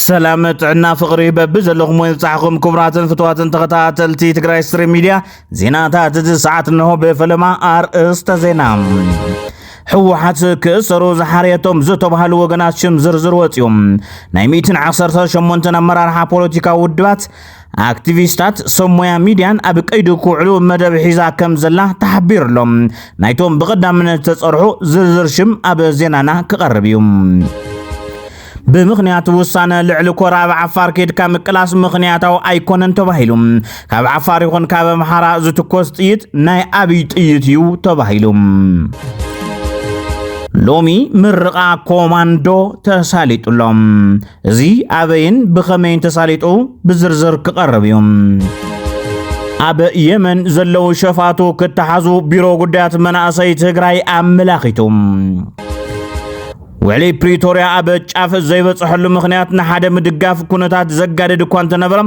ሰላም ጥዕና ፍቅሪ በቢ ዘለኹም ወይ ዝብጻሕኹም ክቡራትን ፍትዋትን ተኸታተልቲ ትግራይ ስትሪም ሚድያ ዜናታት እዚ ሰዓት እንሆ ብፈለማ ኣርእስተ ዜና ህወሓት ክእሰሩ ዝሓርየቶም ዝተባሃሉ ወገናት ሽም ዝርዝር ወፂኦም ናይ ሚእትን ዓሰርተ ሸሞንተን ኣመራርሓ ፖለቲካዊ ውድባት ኣክቲቪስታት ሰብ ሞያ ሚድያን ኣብ ቀይዲ ክውዕሉ መደብ ሒዛ ከም ዘላ ተሓቢሩ ኣሎ። ናይቶም ብቐዳምነት ዝተጸርሑ ዝርዝር ሽም ኣብ ዜናና ክቐርብ እዩ። ብምኽንያት ውሳነ ልዕሊ ኮር ኣብ ዓፋር ከድካ ምቅላስ ምኽንያታዊ ኣይኮነን ተባሂሉ ካብ ዓፋር ይኹን ካብ ኣምሓራ ዝትኮስ ጥይት ናይ ኣብይ ጥይት እዩ ተባሂሉ ሎሚ ምርቓ ኮማንዶ ተሳሊጡሎም እዚ ኣበይን ብኸመይን ተሳሊጡ ብዝርዝር ክቐርብ እዩ። ኣብ የመን ዘለዉ ሸፋቱ ክተሓዙ ቢሮ ጉዳያት መናእሰይ ትግራይ ኣመላኺቱ። ውዕሊ ፕሪቶርያ ኣብ ጫፍ ዘይበፅሐሉ ምክንያት ንሓደ ምድጋፍ ኩነታት ዘጋድድ እኳ እንተነበረ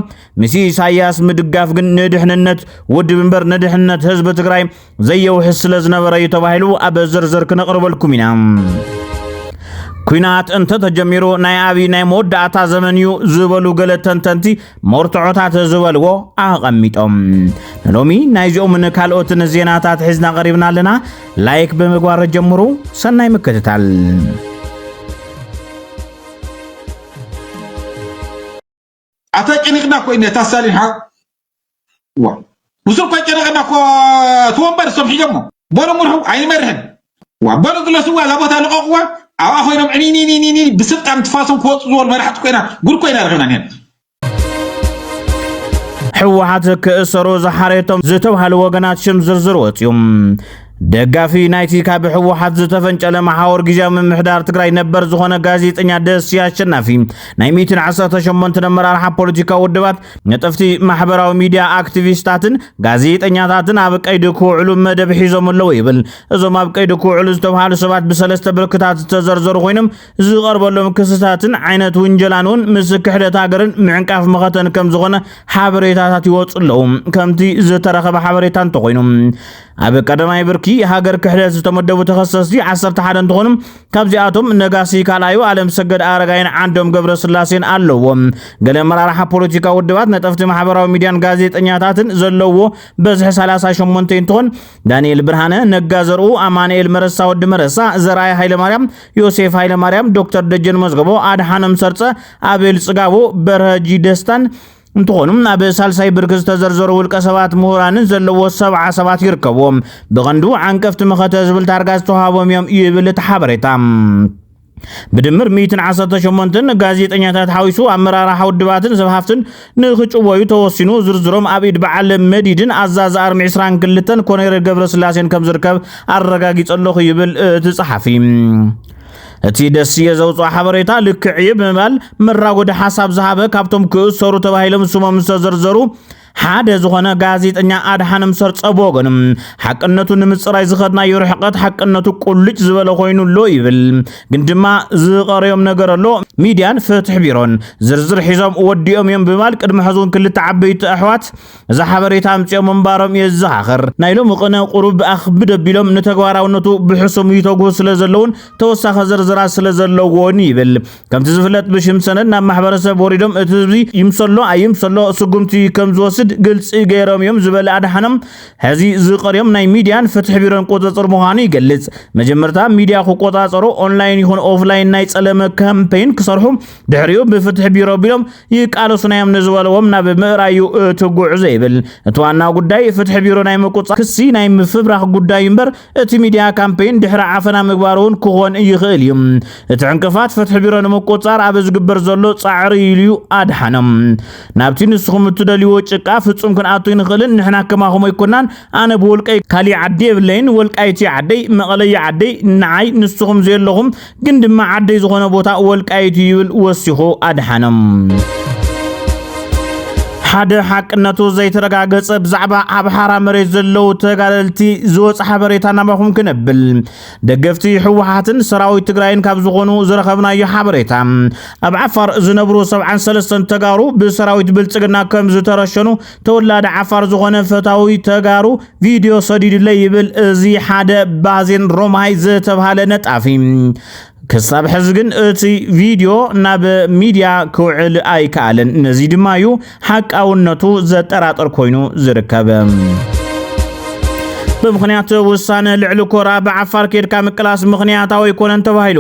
ምስ ኢሳያስ ምድጋፍ ግን ንድሕንነት ውድብ እምበር ንድሕንነት ህዝቢ ትግራይ ዘየውሕስ ስለ ዝነበረ እዩ ተባሂሉ ኣብ ዝርዝር ክነቕርበልኩም ኢና ኩናት እንተ ተጀሚሩ ናይ ኣብዪ ናይ መወዳእታ ዘመን እዩ ዝበሉ ገለ ተንተንቲ መርትዖታት ዝበልዎ ኣቐሚጦም ንሎሚ ናይዚኦምን ካልኦትን ዜናታት ሒዝና ቀሪብና ኣለና ላይክ ብምግባር ጀምሩ ሰናይ ምክትታል ኣታ ጨኒቕና እኮ ኢና እታ ሳሊን ሓው ዋ ንሱ እኳ ጨነቐና እኮ እቲ ወንበር እሶም ሒዞሞ በሉ ምርሑ ኣይንመርሕን ዋ በሉ ግለስዋ እዛ ቦታ ልቐቕዋ ኣብኣ ኮይኖም ዕኒኒኒኒ ብስልጣን ትፋሶም ክወፁ ዝበሉ መራሕቲ ኮይና ጉድ ኮይና ረኺብና ኒና ህወሓት ክእሰሩ ዝሓረየቶም ዝተብሃሉ ወገናት ሽም ዝርዝር ወፅዩ ደጋፊ ናይቲ ካብ ህወሓት ዝተፈንጨለ መሓወር ግዜያዊ ምምሕዳር ትግራይ ነበር ዝኾነ ጋዜጠኛ ደስያ ኣሸናፊ ናይ 118 ኣመራርሓ ፖለቲካዊ ውድባት ነጠፍቲ ማሕበራዊ ሚድያ ኣክቲቪስታትን ጋዜጠኛታትን ኣብ ቀይዲ ክውዕሉ መደብ ሒዞም ኣለዉ ይብል። እዞም ኣብ ቀይዲ ክውዕሉ ዝተብሃሉ ሰባት ብሰለስተ ብርክታት ዝተዘርዘሩ ኮይኖም ዝቐርበሎም ክስታትን ዓይነት ውንጀላን እውን ምስ ክሕደት ሃገርን ምዕንቃፍ መኸተን ከም ዝኾነ ሓበሬታታት ይወፁ ኣለዉ ከምቲ ዝተረኸበ ሓበሬታ እንተኾይኑ ኣብ ቀዳማይ ብርኪ ሃገር ክሕደት ዝተመደቡ ተኸሰስቲ ዓሰርተ ሓደ እንትኾኑ ካብዚኣቶም ነጋሲ ካልኣዩ ኣለም ሰገድ ኣረጋይን ዓንዶም ገብረ ስላሴን ኣለዎም። ገለ መራርሓ ፖለቲካ ውድባት ነጠፍቲ ማሕበራዊ ሚዲያን ጋዜጠኛታትን ዘለዎ በዝሒ 38 እንትኾን ዳንኤል ብርሃነ፣ ነጋ ዘርኡ፣ ኣማንኤል መረሳ ወዲ መረሳ፣ ዘርኣይ ሃይለማርያም፣ ዮሴፍ ሃይለማርያም፣ ዶክተር ደጀን መዝገቦ፣ ኣድሓኖም ሰርፀ፣ ኣቤል ፅጋቦ፣ በርሀጂ ደስታን እንትኾኑ ኣብ ሳልሳይ ብርኪ ዝተዘርዘሩ ውልቀ ሰባት ምሁራንን ዘለዎ ሰብዓ ሰባት ይርከብዎም ብቐንዱ ዓንቀፍቲ መኸተ ዝብል ታርጋ ዝተዋሃቦም እዮም እዩ ይብል እቲ ሓበሬታ ብድምር 118 ጋዜጠኛታት ሓዊሱ ኣመራርሓ ውድባትን ሰብ ሃፍትን ንክጭወዩ ተወሲኑ ዝርዝሮም ኣብ ኢድ በዓል መዲድን ኣዛዚ ኣርሚ 22 ኮነሬል ገብረስላሴን ከም ዝርከብ ኣረጋጊጸ ኣለኹ ይብል እቲ ጸሓፊ እቲ ደስየ ዘውፅኦ ሓበሬታ ልክዕ እዩ ብምባል መራጎዲ ሓሳብ ዝሃበ ካብቶም ክእሰሩ ተባሂሎም ስሞም ዝተዘርዘሩ ሓደ ዝኾነ ጋዜጠኛ ኣድሓንም ሰርጸ ብወገኑ ሓቅነቱ ንምፅራይ ዝኸድናዮ ርሕቀት ሓቅነቱ ቁልጭ ዝበለ ኮይኑ ኣሎ ይብል። ግን ድማ ዝቐረዮም ነገር ኣሎ ሚድያን ፍትሒ ቢሮን ዝርዝር ሒዞም ወዲኦም እዮም ብምባል ቅድሚ ሕዚ እውን ክልተ ዓበይቲ ኣሕዋት ነዛ ሓበሬታ ኣምጺኦም ምንባሮም የዘኻኽር። ናይ ሎሚ ቅነ ቁሩብ ብኣኽብድ ኣቢሎም ንተግባራውነቱ ብሕሱም ይተግሁ ስለ ዘለውን ተወሳኺ ዝርዝራት ስለ ዘለዎን ይብል። ከምቲ ዝፍለጥ ብሽም ሰነድ ናብ ማሕበረሰብ ወሪዶም እቲ ህዝቢ ይምሰሎ ኣይምሰሎ ስጉምቲ ከም ዝወስድ ግልጺ ገይሮም እዮም ዝበለ ኣድሓኖም ሕዚ ዝቀርዮም ናይ ሚድያን ፍትሒ ቢሮን ቁጽጽር ምዃኑ ይገልጽ። መጀመርታ ሚድያ ክቆጻጸሩ ኦንላይን ይኹን ኦፍላይን ናይ ጸለመ ካምፔይን ክሰርሑ ድሕሪኡ ብፍትሒ ቢሮ ቢሎም ይቃለሱ ናዮም ንዝበለዎም ናብ ምእራዩ እቲ ጉዕዞ ይብል። እቲ ዋና ጉዳይ ፍትሒ ቢሮ ናይ ምቁፃር ክሲ ናይ ምፍብራኽ ጉዳዩ እምበር እቲ ሚዲያ ካምፔይን ድሕሪ ዓፈና ምግባር እውን ክኾን ይኽእል እዩ። እቲ ዕንቅፋት ፍትሒ ቢሮ ንምቁፃር ኣብ ዝግበር ዘሎ ፃዕሪ እዩ ኢሉ ኣድሓኖም። ናብቲ ንስኹም እትደልይዎ ጭቃ ፍፁም ክንኣቱ ኣይንኽእልን፣ ንሕና ከማኹም ኣይኮናን፣ ኣነ ብውልቀይ ካሊእ ዓዲ የብለይን፣ ወልቃይት እዩ ዓደይ፣ መቐለ እዩ ዓደይ፣ ንዓይ ንስኹም ዘየለኹም ግን ድማ ዓደይ ዝኾነ ቦታ ወልቃይት እዩ ይብል ወሲኹ ኣድሓኖም። ሓደ ሓቅነቱ ዘይተረጋገጸ ብዛዕባ ኣብ ሓራ መሬት ዘለዉ ተጋደልቲ ዝወፅ ሓበሬታ ናባኹም ክነብል ደገፍቲ ህወሓትን ሰራዊት ትግራይን ካብ ዝኾኑ ዝረኸብናዮ ሓበሬታ ኣብ ዓፋር ዝነብሩ 73 ተጋሩ ብሰራዊት ብልፅግና ከም ዝተረሸኑ ተወላዲ ዓፋር ዝኾነ ፈታዊ ተጋሩ ቪድዮ ሰዲዱለይ ይብል እዚ ሓደ ባዜን ሮማይ ዝተብሃለ ነጣፊ። ክሳብ ሕዚ ግን እቲ ቪድዮ ናብ ሚድያ ክውዕል ኣይከኣለን። ነዚ ድማ እዩ ሓቃውነቱ ዘጠራጥር ኮይኑ ዝርከብ። ብምክንያት ውሳነ ልዕሊ ኮራ ብዓፋር ኬድካ ምቅላስ ምክንያታዊ ኣይኮነን ተባሂሉ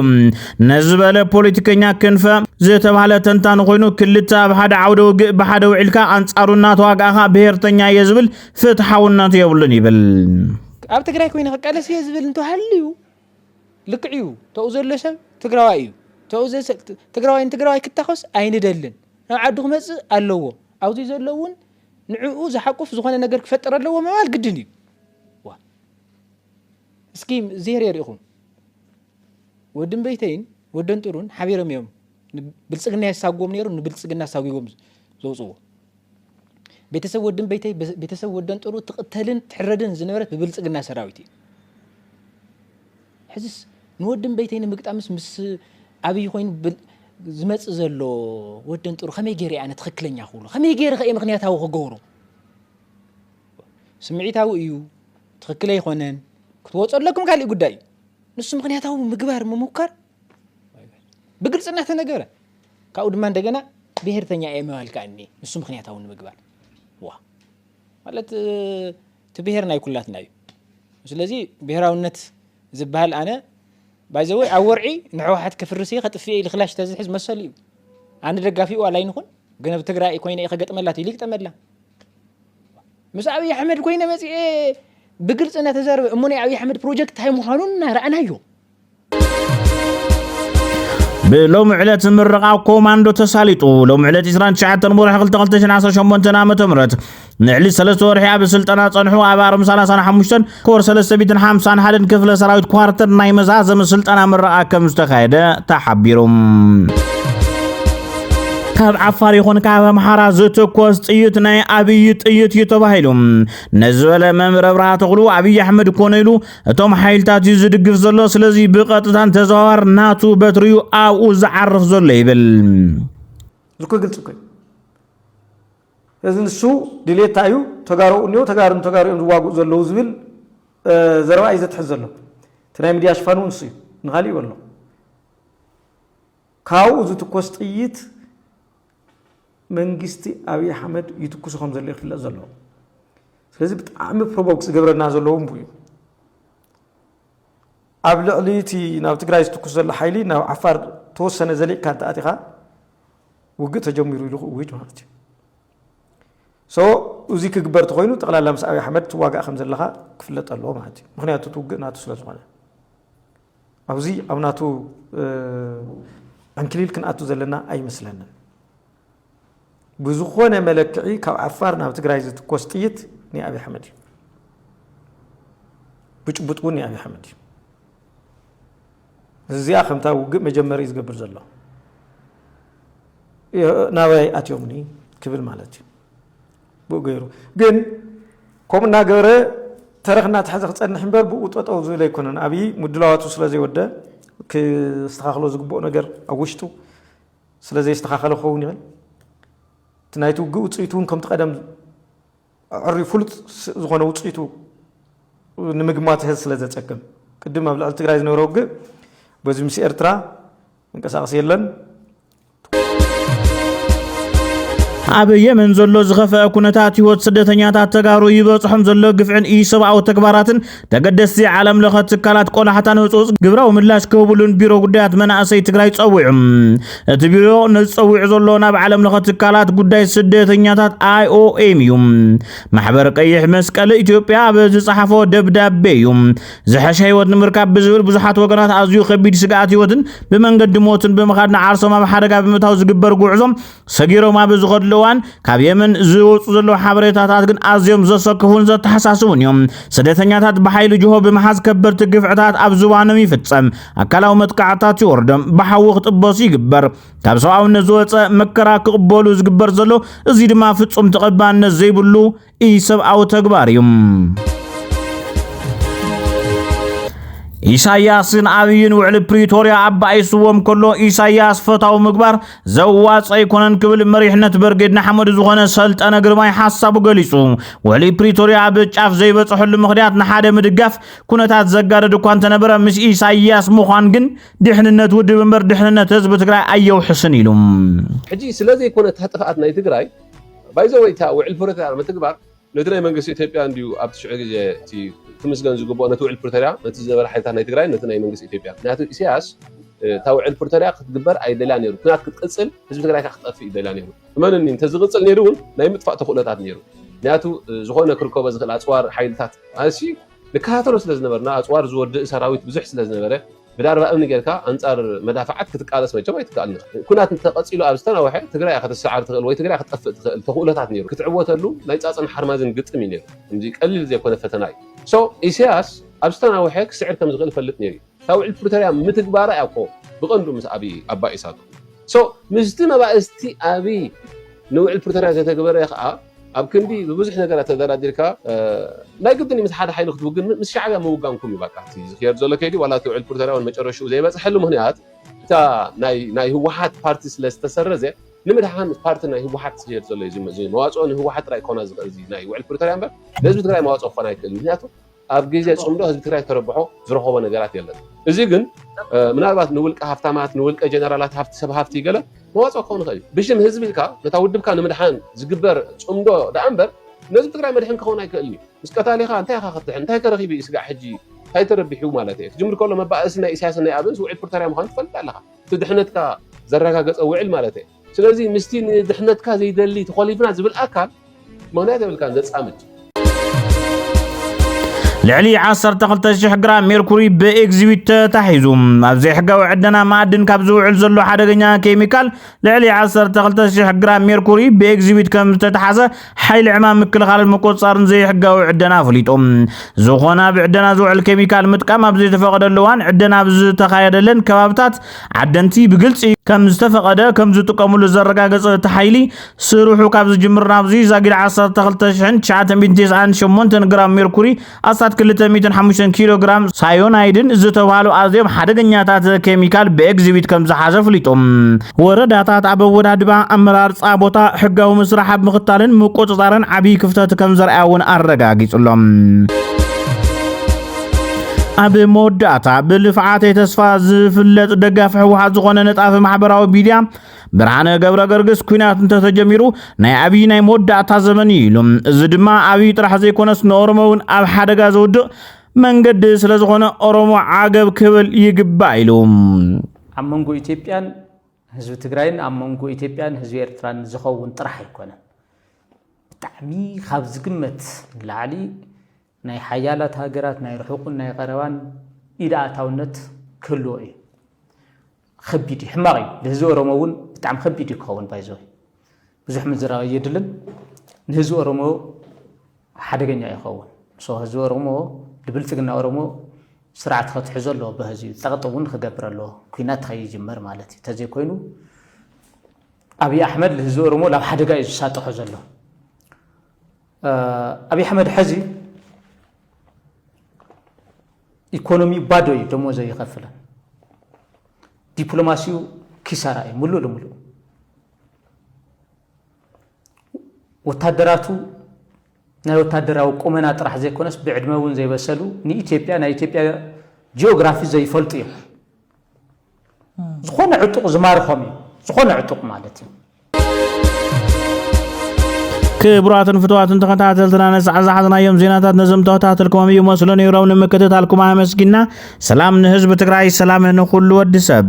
ነዚ በለ ፖለቲከኛ ክንፈ ዝተባሃለ ተንታኒ ኮይኑ ክልተ ኣብ ሓደ ዓውደ ውግእ ብሓደ ውዒልካ ኣንጻሩ እናተዋጋእኻ ብሄርተኛ እየ ዝብል ፍትሓውነት የብሉን ይብል። ኣብ ትግራይ ኮይኑ ክቃለስ እየ ዝብል እንተሃልዩ ልክዕ እዩ። ተኡ ዘሎ ሰብ ትግራዋይ እዩ። ተኡ ትግራዋይ ንትግራዋይ ክታኸስ ኣይንደልን። ናብ ዓዱ ክመፅእ ኣለዎ። ኣብዚ ዘሎ እውን ንዕኡ ዝሓቁፍ ዝኾነ ነገር ክፈጥር ኣለዎ ምባል ግድን እዩ። እስኪ ዜር የርእኹም ወድን በይተይን ወደን ጥሩን ሓቢሮም እዮም ብልፅግና የሳጎም ነይሩ ንብልፅግና ኣሳጒቦም ዘውፅዎ ቤተሰብ ወድን ቤተይ ቤተሰብ ወደን ጥሩ ትቕተልን ትሕረድን ዝነበረት ብብልጽግና ሰራዊት እዩ ሕዝስ ንወድን ቤተይ ንምግጣምስ ምስ ኣብይ ኮይኑ ዝመጽእ ዘሎ ወደን ጥሩ ከመይ ገይረ ኣነ ትኽክለኛ ክብሉ ከመይ ገይረ ከየ ምክንያታዊ ክገብሩ ስምዒታዊ እዩ ትኽክል ኣይኮነን ክትወፁ ኣለኩም ካልእ ጉዳይ እዩ ንሱ ምክንያታዊ ምግባር ምሙካር ብግልፂ እናተነገረ ካብኡ ድማ እንደገና ብሄርተኛ እየ ምባል ከኣ እኒኤ ንሱ ምክንያታዊ ንምግባር ዋእ ማለት እቲ ብሄር ናይ ኩላትና እዩ ስለዚ ብሄራውነት ዝበሃል ኣነ ባይዘወይ ኣብ ወርዒ ንሕወሓት ከፍርስ እየ ከጥፍኤ ኢሉ ክላሽ ተዝሕዝ መሰሉ እዩ ኣነ ደጋፊኡ ዋላ ይንኹን ግን ኣብ ትግራይ ኮይነ እየ ከገጥመላ ኢሉ ይግጠመላ ምስ ኣብይ ኣሕመድ ኮይነ መፅኤ ብግልፂ እናተዛረበ እሞ ናይ ኣብይ ኣሕመድ ፕሮጀክት እንታይ ምዃኑን እናረኣናዮ ብሎሚ ዕለት ምረቓ ኮማንዶ ተሳሊጡ ሎሚ ዕለት 29 ወርሒ 22018 ዓ ም ንዕሊ 3 ወርሒ ኣብ ስልጠና ጸንሑ ኣብ ኣርም 35 ኮር 351 ክፍለ ሰራዊት ኳርተር ናይ መዛዘሚ ስልጠና ምረቓ ከም ዝተኻየደ ተሓቢሩ ካብ ዓፋር ይኹን ካብ ኣምሓራ ዝተኮስ ጥይት ናይ ኣብይ ጥይት እዩ ተባሂሉ ነዚ በለ መምህር ኣብርሃ ተኽሉ ኣብይ ኣሕመድ ኮነ ኢሉ እቶም ሓይልታት እዩ ዝድግፍ ዘሎ ስለዚ ብቐጥታን ተዘዋዋር ናቱ በትሪ እዩ ኣብኡ ዝዓርፍ ዘሎ ይብል እኮ ግልፂ እኮ እዚ ንሱ ድሌት እንታይ እዩ ተጋሩ እኒኦ ተጋሩ ንተጋሩ እዮም ዝዋግኡ ዘለዉ ዝብል ዘረባ እዩ ዘትሕዝ ዘሎ እቲ ናይ ሚድያ ሽፋን እውን ንሱ እዩ ንካሊእ ይበሎ ካብኡ ዝትኮስ ጥይት መንግስቲ ኣብይ ኣሕመድ ይትኩሱ ከም ዘሎ ይፍለጥ ዘሎ ስለዚ ብጣዕሚ ፕሮቮክ ዝገብረና ዘለዉ እምቡ እዩ ኣብ ልዕሊ እቲ ናብ ትግራይ ዝትኩስ ዘሎ ሓይሊ ናብ ዓፋር ተወሰነ ዘሊቕካ እንተኣቲኻ ውግእ ተጀሚሩ ኢሉ ክእውጅ ማለት እዩ ሶ እዚ ክግበር ተኮይኑ ጠቕላላ ምስ ኣብይ ኣሕመድ ትዋጋእ ከም ዘለኻ ክፍለጥ ኣለዎ ማለት እዩ ምክንያቱ እቲ ውግእ ናቱ ስለ ዝኾነ ኣብዚ ኣብ ናቱ ዕንክሊል ክንኣቱ ዘለና ኣይመስለንን። ብዝኾነ መለክዒ ካብ ዓፋር ናብ ትግራይ ዝትኮስ ጥይት ናይ ኣብይ ኣሕመድ እዩ። ብጭቡጥ እውን ናይ ኣብይ ኣሕመድ እዩ። እዚኣ ከምታ ውግእ መጀመሪ ዝገብር ዘሎ ናበይ ኣትዮምኒ ክብል ማለት እዩ። ብኡ ገይሩ ግን ከምኡ እናገበረ ተረኽ እናተሓዘ ክፀንሕ እምበር ብኡ ጠጠው ዝብል ኣይኮነን። ኣብዪ ምድላዋቱ ስለዘይወደ ክስተኻኸሎ ዝግብኦ ነገር ኣብ ውሽጡ ስለዘይስተኻኸለ ክኸውን ይኽእል እቲ ናይቲ ውግእ ውፅኢቱ እውን ከምቲ ቀደም ዕሪ ፍሉጥ ዝኾነ ውፅኢቱ ንምግማት ህዝ ስለ ዘፀግም ቅድም ኣብ ልዕሊ ትግራይ ዝነበረ ውግእ በዚ ምስ ኤርትራ መንቀሳቀሲ የለን ኣብ የመን ዘሎ ዝኸፍአ ኩነታት ህይወት ስደተኛታት ተጋሩ ይበፅሖም ዘሎ ግፍዕን ኢሰብኣዊ ተግባራትን ተገደስቲ ዓለም ለኸ ትካላት ቆላሕታን ህፁፅ ግብራዊ ምላሽ ክህብሉን ቢሮ ጉዳያት መናእሰይ ትግራይ ፀዊዑ እቲ ቢሮ ነዚ ፀዊዑ ዘሎ ናብ ዓለም ለኸ ትካላት ጉዳይ ስደተኛታት ኣይኦኤም እዩ ማሕበር ቀይሕ መስቀል ኢትዮጵያ ኣብ ዝፀሓፎ ደብዳቤ እዩ ዝሐሸ ህይወት ንምርካብ ብዝብል ብዙሓት ወገናት ኣዝዩ ከቢድ ስግኣት ህይወትን ብመንገዲ ሞትን ብምኻድ ንዓርሶም ኣብ ሓደጋ ብምእታው ዝግበር ጉዕዞ ሰጊሮም ኣብ ዝኸድሉ እዋን ካብ የመን ዝወፁ ዘለዉ ሓበሬታታት ግን ኣዝዮም ዘሰክፉን ዘተሓሳስቡን እዮም። ስደተኛታት ብሓይሊ ጅሆ ብምሓዝ ከበድቲ ግፍዕታት ኣብ ዝባኖም ይፍፀም፣ ኣካላዊ መጥቃዕትታት ይወርዶም፣ ብሓዊ ክጥበሱ ይግበር። ካብ ሰብኣውነት ዝወፀ መከራ ክቕበሉ ዝግበር ዘሎ እዚ ድማ ፍፁም ተቐባልነት ዘይብሉ ኢሰብኣዊ ተግባር እዩ። ኢሳያስን ኣብይን ውዕሊ ፕሪቶርያ ኣባኢስዎም ከሎ ኢሳያስ ፈታዊ ምግባር ዘዋጽ ኣይኮነን ክብል መሪሕነት በርጌድ ንሓመዱ ዝኾነ ሰልጠነ ግርማይ ሓሳቡ ገሊጹ። ውዕሊ ፕሪቶርያ ኣብ ጫፍ ዘይበጽሐሉ ምኽንያት ንሓደ ምድጋፍ ኩነታት ዘጋደድ እኳ እንተነበረ ምስ ኢሳያስ ምዃን ግን ድሕንነት ውድብ እምበር ድሕንነት ህዝቢ ትግራይ ኣየውሕስን ኢሉ። ሕጂ ስለዘይኮነ እታ ጥፍኣት ናይ ትግራይ ባይ ዘ ወይ እታ ውዕል ፕሪቶርያ ምትግባር ነቲ ናይ መንግስቲ ኢትዮጵያ እንድዩ ኣብቲ ሽዑ ግዜ እቲ ክምስገን ዝግብኦ ነቲ ውዕል ፕሪቶርያ ነቲ ዝነበረ ሓይልታት ናይ ትግራይ ነቲ ናይ መንግስቲ ኢትዮጵያ ምክንያቱ ኢሳያስ እታ ውዕል ፕሪቶርያ ክትግበር ኣይደልያ ነይሩ ኩናት ክትቅፅል ህዝቢ ትግራይ ካ ክትጠፍእ ይደልያ ነይሩ እመንኒ እንተዝቕፅል ነይሩ እውን ናይ ምጥፋእ ተኽእሎታት ነይሩ ምክንያቱ ዝኾነ ክርከቦ ዝኽእል ኣፅዋር ሓይልታት ኣሲ ንከታተሎ ስለ ዝነበርና ኣፅዋር ዝወድእ ሰራዊት ብዙሕ ስለ ዝነበረ ብዳርባ እምኒ ጌርካ ኣንጻር መዳፍዓት ክትቃለስ መቸም ኣይትከኣልን ኢኻ። ኩናት እንተ ቀጺሉ ኣብ ዝተናወሐ ትግራይ እያ ክትሰዓር ትኽእል ወይ ትግራይ ክትጠፍእ ትኽእል ተኽእሎታት ኔሩ። ክትዕወተሉ ናይ ጻጸን ሓርማዝን ግጥም እዩ ኔሩ። ከምዚ ቀሊል ዘይኮነ ፈተና እዩ። So ኢሰያስ ኣብ ዝተናወሐ ክስዕር ከም ዝኽእል ይፈልጥ ኔሩ እዩ። እታ ውዕል ፕሪቶርያ ምትግባራ እያ እኮ ብቐንዱ ምስ ኣብይ ኣባኢሳቶ። So ምስቲ መባእስቲ ኣብይ ንውዕል ፕሪቶርያ ዘተግበረ ከኣ፣ ኣብ ክንዲ ብብዙሕ ነገራት ተደራዲርካ ናይ ግድን እዩ ምስ ሓደ ሓይሊ ክትውግን ምስ ሻዕብያ ምውጋንኩም እዩ ባቃ እቲ ዝክየድ ዘሎ ከይዲ ዋላ እቲ ውዕል ፕሪቶርያውን መጨረሽኡ ዘይበፅሐሉ ምክንያት እታ ናይ ናይ ህወሓት ፓርቲ ስለ ዝተሰረዘ ንምድሓን ፓርቲ ናይ ህወሓት ዝክየድ ዘሎ እዩ መዋፅኦ ንህወሓት ጥራይ ክኾና ዝኽእል እዚ ናይ ውዕል ፕሪቶርያ እምበር ንህዝቢ ትግራይ መዋፅኦ ክኾን ኣይክእልን ምክንያቱ ኣብ ግዜ ጽምዶ ህዝቢ ትግራይ ተረብሖ ዝረኸቦ ነገራት የለን። እዚ ግን ምናልባት ንውልቀ ሃብታማት ንውልቀ ጀነራላት ሃብቲ ሰብ ሃብቲ ገለ መዋጽኦ ክኸውን ይኽእል እዩ። ብሽም ህዝቢ ኢልካ ነታ ውድብካ ንምድሓን ዝግበር ጽምዶ ደኣ እምበር ነህዝቢ ትግራይ መድሕን ክኸውን ኣይክእልን እዩ። ምስ ቀታሊኻ እንታይ ኢኻ ክትድሕን እንታይ ከረኺቡ እዩ ስጋዕ ሕጂ እንታይ ተረቢሑ ማለት እየ። ክጅምር ከሎ መባእሲ ናይ ኢሳያስን ናይ ኣብንስ ውዕል ፕሪቶርያ ምዃኑ ትፈልጥ ኣለኻ። እቲ ድሕነትካ ዘረጋገጸ ውዕል ማለት እየ። ስለዚ ምስቲ ንድሕነትካ ዘይደሊ ተኾሊፍና ዝብል ኣካል ምኽንያት የብልካን ዘጻምድ። ልዕሊ 12,000 ግራም ሜርኩሪ ብኤግዚቢት ተታሒዙ ኣብ ዘይሕጋዊ ዕደና ማዕድን ካብ ዝውዕል ዘሎ ሓደገኛ ኬሚካል ልዕሊ 12,000 ግራም ሜርኩሪ ብኤግዚቢት ከም ዝተታሓዘ ሓይሊ ዕማም ምክልኻልን ምቁፅፃርን ዘይሕጋዊ ዕደና ኣፍሊጡ። ዝኾነ ኣብ ዕደና ዝውዕል ኬሚካል ምጥቃም ኣብ ዘይተፈቐደሉ እዋን ዕደና ኣብ ዝተኻየደለን ከባብታት ዓደንቲ ብግልፂ ከም ዝተፈቐደ ከም ዝጥቀምሉ ዘረጋገፀ እቲ ሓይሊ ስርሑ ካብ ዝጅምር ናብዚ ዛጊድ ዓሰርተ ክልተ ሽሕን ትሽዓተ ሚእትን ተስዓን ሸሞንተን ግራም ሜርኩሪ ኣስታት ክልተ ሚእትን ሓሙሽተን ኪሎ ግራም ሳዮናይድን ዝተብሃሉ ኣዝዮም ሓደገኛታት ኬሚካል ብኤግዚቢት ከም ዝሓዘ ኣፍሊጡ። ወረዳታት ኣብ ኣወዳድባ፣ ኣመራርጻ ቦታ፣ ሕጋዊ ምስራሕ ኣብ ምኽታልን ምቁጽጻርን ዓብዪ ክፍተት ከም ዘርኣያ እውን ኣረጋጊጹ ኣሎ። ኣብ መወዳእታ ብልፍዓተይ ተስፋ ዝፍለጥ ደጋፊ ህወሓት ዝኾነ ነጣፊ ማሕበራዊ ሚድያ ብርሃነ ገብረገርግስ ኩናት እንተተጀሚሩ ናይ ኣብዪ ናይ መወዳእታ ዘመን እዩ ኢሉ። እዚ ድማ ኣብዪ ጥራሕ ዘይኮነስ ንኦሮሞ እውን ኣብ ሓደጋ ዘውድቕ መንገዲ ስለ ዝኾነ ኦሮሞ ዓገብ ክብል ይግባእ ኢሉ። ኣብ መንጎ ኢትዮጵያን ህዝቢ ትግራይን ኣብ መንጎ ኢትዮጵያን ህዝቢ ኤርትራን ዝኸውን ጥራሕ ኣይኮነን። ብጣዕሚ ካብ ዝግመት ንላዕሊ ናይ ሓያላት ሃገራት ናይ ርሑቕን ናይ ቐረባን ኢድ ኣእታውነት ክህልዎ እዩ። ኸቢድ እዩ፣ ሕማቕ እዩ። ንህዝቢ ኦሮሞ እውን ብጣዕሚ ኸቢድ እዩ ክኸውን ባይዘወ ብዙሕ ምዝራብ ኣየድልን። ንህዝቢ ኦሮሞ ሓደገኛ እዩ ክኸውን። ሶ ህዝቢ ኦሮሞ ንብልፅግና ኦሮሞ ስርዓት ከትሕዞ ኣለዎ በህዚ እዩ ፀቕጢ እውን ክገብር ኣለዎ ኩናት ከይጅመር ማለት እዩ ተዘይኮይኑ ኣብዪ ኣሕመድ ንህዝቢ ኦሮሞ ናብ ሓደጋ እዩ ዝሳጥሖ ዘሎ ኣብይ ኣሕመድ ሐዚ ኢኮኖሚኡ ባዶ እዩ፣ ደሞዝ ኣይኸፍልን፣ ዲፕሎማሲኡ ኪሳራ እዩ ምሉእ ልምሉእ ወታደራቱ ናይ ወታደራዊ ቁመና ጥራሕ ዘይኮነስ ብዕድመ እውን ዘይበሰሉ ንኢትዮጵያ ናይ ኢትዮጵያ ጂኦግራፊ ዘይፈልጡ እዮም። ዝኾነ ዕጡቕ ዝማርኾም እዩ ዝኾነ ዕጡቕ ማለት እዩ ክቡራትን ፍትዋትን ተኸታተልትና ነሳዕ ዝሓዝናዮም ዜናታት ነዞም ተኸታተልኩሞም እዩ መስሎ ነይሮም ንምክትታልኩም ኣመስጊና ሰላም ንህዝቢ ትግራይ ሰላም ንኹሉ ወዲ ሰብ